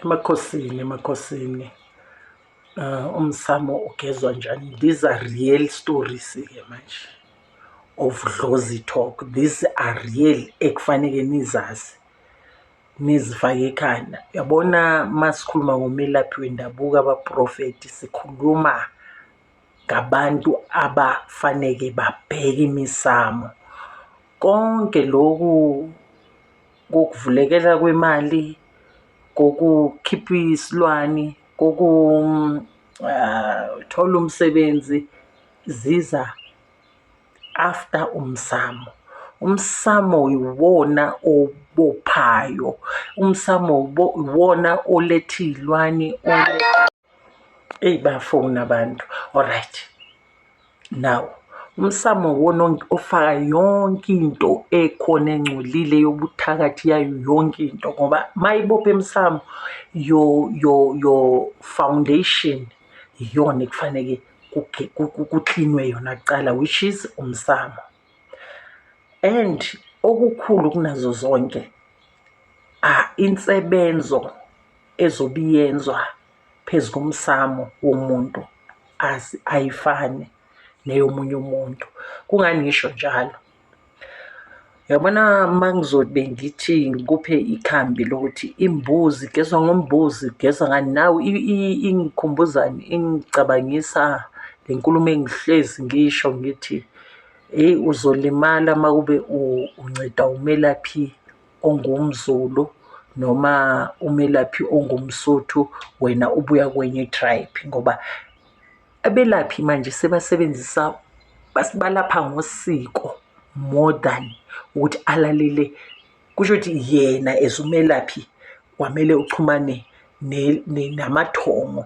emakhosini emakhosini uh, umsamo ugezwa njani these are real stories ke manje of dlozi talk these are real ekufaneke nizazi nizifake ekhanda yabona masikhuluma ngomelaphi wendabuko abaprofeti sikhuluma ngabantu abafaneke babheke imisamo konke lokhu ngokuvulekela kwemali ngokukhipha isilwane ngokuthola umsebenzi ziza after umsamo. Umsamo iwona obophayo, umsamo iwona oletha iy'lwane . eyi bayafona abantu alright now umsamo wona ofaka yonke into ekhona engcolile yobuthakathi yayo yonke into ngoba mayibopha emsamo yo yo yo foundation iyona ekufaneke kuklinwe yona kuqala which is umsamo and okukhulu kunazo zonke insebenzo ezobe iyenzwa phezu komsamo womuntu ayifani neyomunye umuntu kungani ngisho njalo yabona uma ngizobe ngithi ngikuphe ikhambi lokuthi imbuzi geza ngombuzi geza ngani nawe ingikhumbuzani ingicabangisa le nkulumo engihlezi ngisho ngithi Hheyi uzolimala uma kube unceda umelaphi ongumZulu noma umelaphi ongumSuthu wena ubuya kwenye i-tribe ngoba abelaphi manje sebasebenzisa balapha ngosiko more than ukuthi alalele. Kusho ukuthi yena as umelaphi kwamele uxhumane namathongo.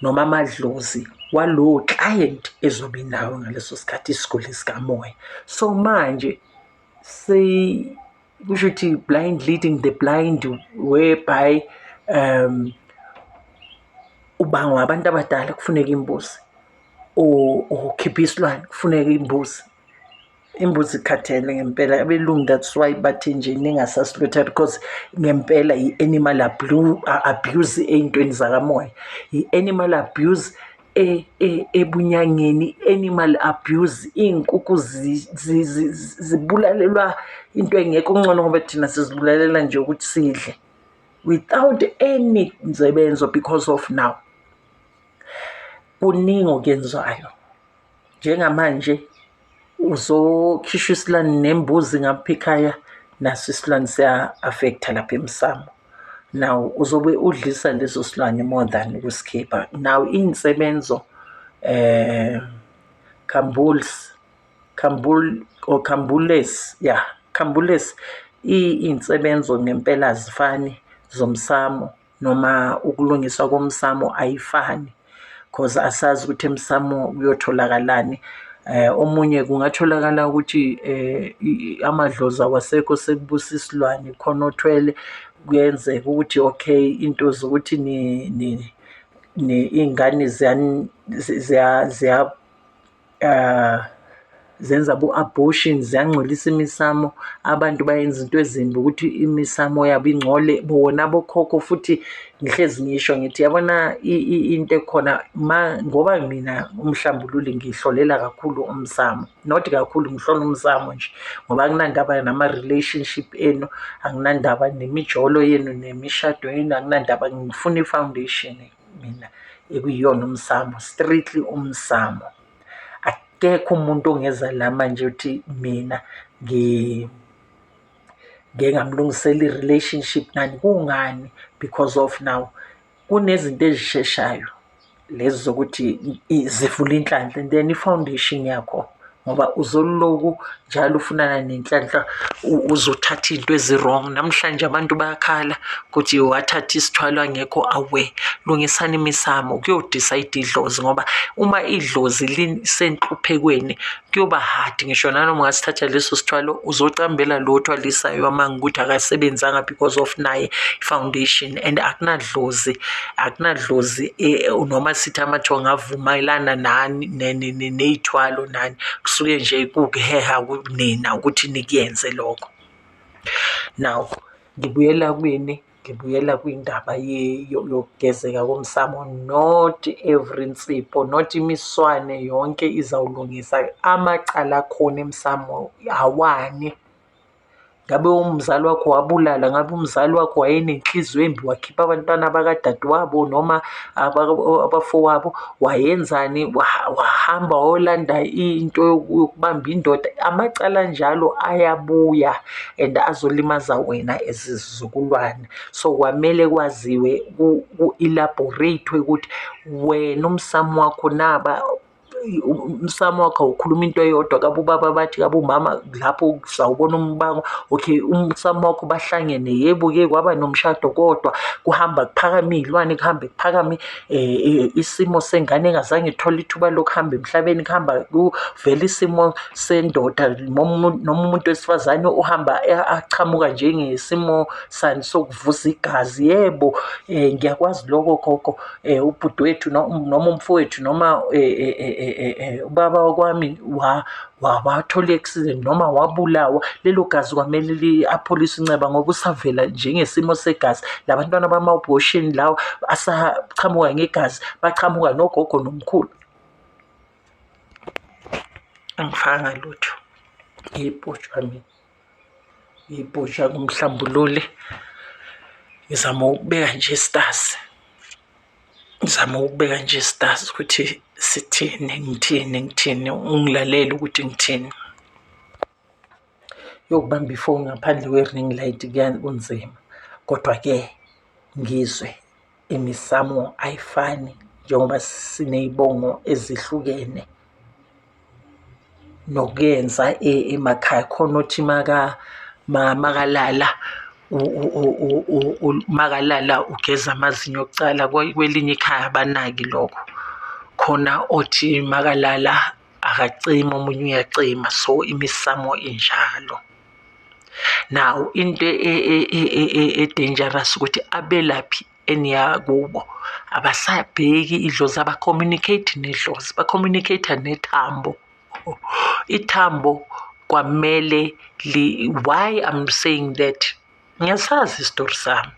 noma amadlozi walowo client ezobe nawo ngaleso sikhathi isiguli sikamoya so manje kusho ukuthi blind leading the blind whereby um ubangwa abantu abadala kufuneka imbuzi or ukhipha isilwane kufuneka imbuzi imbuzi ikhathele ngempela abelungu that's why bathi nje ningasasilutha because ngempela i-animal abuse ey'ntweni zakamoya i-animal abuse e, e, ebunyangeni animal abuse iy'nkukhu zibulalelwa into engekho kungcono ngoba thina sizibulalela nje ukuthi sidle without any nsebenzo because of now kuningi okwenzayo njengamanje uzokhishwa isilwane nembuzi ngaphikhaya naso isilwane siya-affektha lapha emsamo now uzobe udlisa leso silwane more than ukusikhipha now iy'nsebenzo eh cambuls cambul or cambules ya yeah, cambules iy'nsebenzo ngempela azifani zomsamo noma ukulungiswa komsamo ayifani cause asazi ukuthi emsamo kuyotholakalani eh omunye kungatholakala ukuthi eh amadlozi awasekho sekubusa isilwane khona othwele kuyenzeka ukuthi okay into zokuthi ni ni ingane ziya uh, zenza bo-abortion ziyangcolisa imisamo abantu bayenza into ezimbi ukuthi imisamo yabo ingcole bona bokhokho futhi ngihlezi ngisho ngithi yabona into ekhona ma ngoba mina umhlambululi ngihlolela kakhulu umsamo not kakhulu ngihlola umsamo nje ngoba anginandaba nama-relationship enu anginandaba nemijolo yenu nemishado yenu anginandaba ngifuna i-foundation nje mina ekuyiyona umsamo strictly umsamo akekho umuntu ongeza la manje uthi mina ngi ngeke ngamlungisela i-relationship nani kungani because of now kunezinto ezisheshayo lezi zokuthi zivula inhlanhla and then i-foundation yakho ngoba uzoloku njalo ufunana nenhlanhla uzothatha into ezi-wrong namhlanje abantu bayakhala ukuthi wathatha isithwalo angekho awe lungisani imisamo kuyodisa idlozi ngoba uma idlozi lisenhluphekweni kuyoba hard ngisho nanoma ungasithatha leso sithwalo uzocambela lo othwalisayo amanga ukuthi akasebenzanga because of naye foundation and akunadlozi akunadlozi eh, noma sithi amathonga avumelana nani ney'thwalo nani kusuke nje kuwukuheha kunina ukuthi nikuyenze lokho. Now ngibuyela kwini? Ngibuyela kwindaba yokugezeka komsamo not every nsipho not imiswane yonke izawulungisa amacala akhona emsamo awani. ngabe umzali wakho wabulala ngabe umzali wakho wayenenhliziyo embi wakhipha abantwana bakadadewabo noma abafowabo wayenzani wahamba wayolanda into yokubamba indoda amacala njalo ayabuya and azolimaza wena ezizukulwane so kwamele kwaziwe ku-elaborate-we ukuthi wena umsamo wakho naba umsamo wakho awukhuluma into eyodwa kabe ubaba bathi kabe umama lapho sawubona umbango okay umsamo wakho bahlangene yebo ke kwaba nomshado kodwa kuhamba kuphakama iy'lwane kuhambe kuphakame um isimo sengane engazange ithole ithuba lokuhamba emhlabeni kuhamba kuvela isimo sendoda noma umuntu wesifazane uhamba achamuka njengesimo sani sokuvuza igazi yebo um ngiyakwazi loko gogo eh ubhuti wethu noma umfowethu noma eh, eh, eh, ubaba wakwami wathola i-accident noma wabulawa lelo gazi kwamele li-apholise inceba ngoba usavela njengesimo segazi labantwana bama-abortion lawo asaqhamuka ngegazi baqhamuka nogogo nomkhulu angifanga lutho ngiyibhotshwa mina ibhusha kumhlambululi ngizama ukubeka nje stasi ngizama ukubeka nje stasi ukuthi sithini ngithini ngithini ungilalele ukuthi ngithini yokubamba ifoni ngaphandle kwe-ring light kunzima kodwa-ke ngizwe imisamo ayifani njengoba siney'bongo ezihlukene nokuyenza e, emakhaya khona othi makalala makalala ugeza amazinyo okucala kwelinye ikhaya abanaki lokho khona othi makalala akacima omunye uyacima so imisamo injalo nawo into e, e, e, e-dangerous ukuthi abelaphi eniyakubo abasabheki idlozi abacommunicate nedlozi bacommunicate nethambo ithambo kwamele why i'm saying that ngiyasazi isitori sami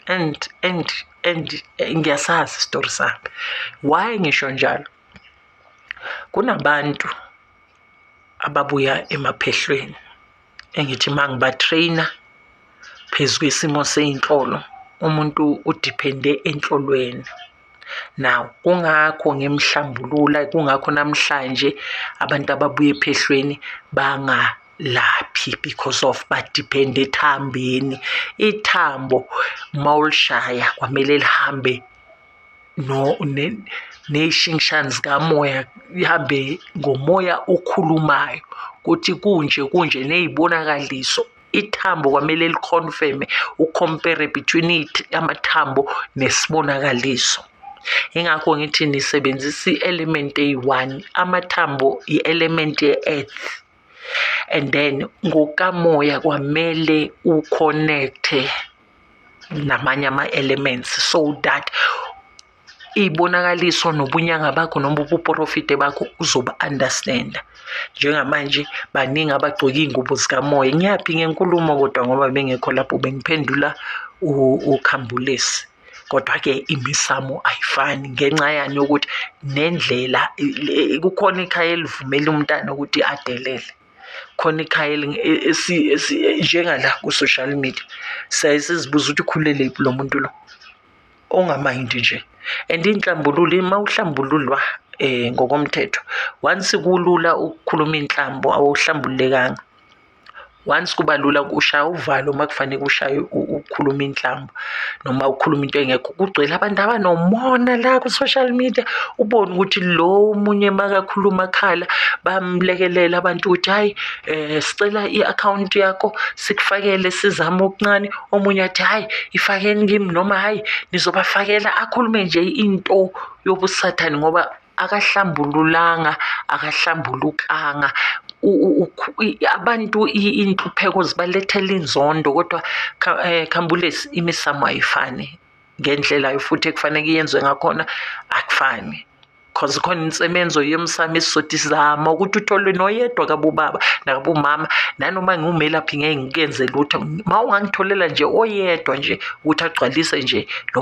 and and and ngiyasazi isitori sami why ngisho njalo Kunabantu ababuya emaphehlweni engithi uma ngiba-train-a phezu kwesimo sey'nhlolo, umuntu udiphende enhlolweni. Now, kungakho ngimhlambulula, kungakho namhlanje abantu ababuya ephehlweni bangalaphi because of badiphende ethambeni. Ithambo uma ulishaya kwamele lihambe no nezishingishane zikamoya ihambe ngomoya okhulumayo ukuthi kunje kunje ney'bonakaliso ithambo kwamele likhonfeme ukhompere between amathambo nesibonakaliso ingakho ngithi nisebenzisa i-element eyi-one amathambo i-element ye-earth and then ngokamoya kwamele uconnecte namanye ama-elements so that iy'bonakaliso nobunyanga bakho noma ubuporofide bakho uzoba-understanda njengamanje baningi abagcoke iy'ngubo zikamoya ngiyaphi ngenkulumo kodwa ngoba bengekho lapho bengiphendula ukhambulesi kodwa-ke imisamo ayifani ngenxa yani yokuthi nendlela kukhona ikhaya elivumela umntana ukuthi adelele khona ikhaya njengala ku-social media siyaye sizibuza ukuthi ukhulele lo muntu lo ongamayindi nje and iy'nhlambululo uma uhlambululwa um ngokomthetho once kulula ukukhuluma iy'nhlambo awuhlambululekanga. once kuba lula ushaya uvalo uma kufanele ushaye ukhuluma inhlamba noma ukhuluma into engekho kugcwele abantu abanomona la ku-social media ubone ukuthi lo omunye makakhuluma akhala bamlekelela abantu ukuthi hhayi um sicela i-akhawunti yakho sikufakele sizame okuncane omunye athi hhayi ifakeni kimi noma hhayi nizobafakela akhulume nje into yobusathane ngoba akahlambululanga akahlambulukanga abantu inhlupheko zibalethela inzondo kodwa eh, khambulesi imisamo ayifani ngendlela yo futhi ekufaneke yenziwe ngakhona akufani because khona insebenzo yemsamo esizodi sizama ukuthi utholwe noyedwa kabobaba nakabomama nanoma ngiwumelaphi ngeke ngikenze lutho ma ungangitholela nje oyedwa nje ukuthi agcwalise nje lo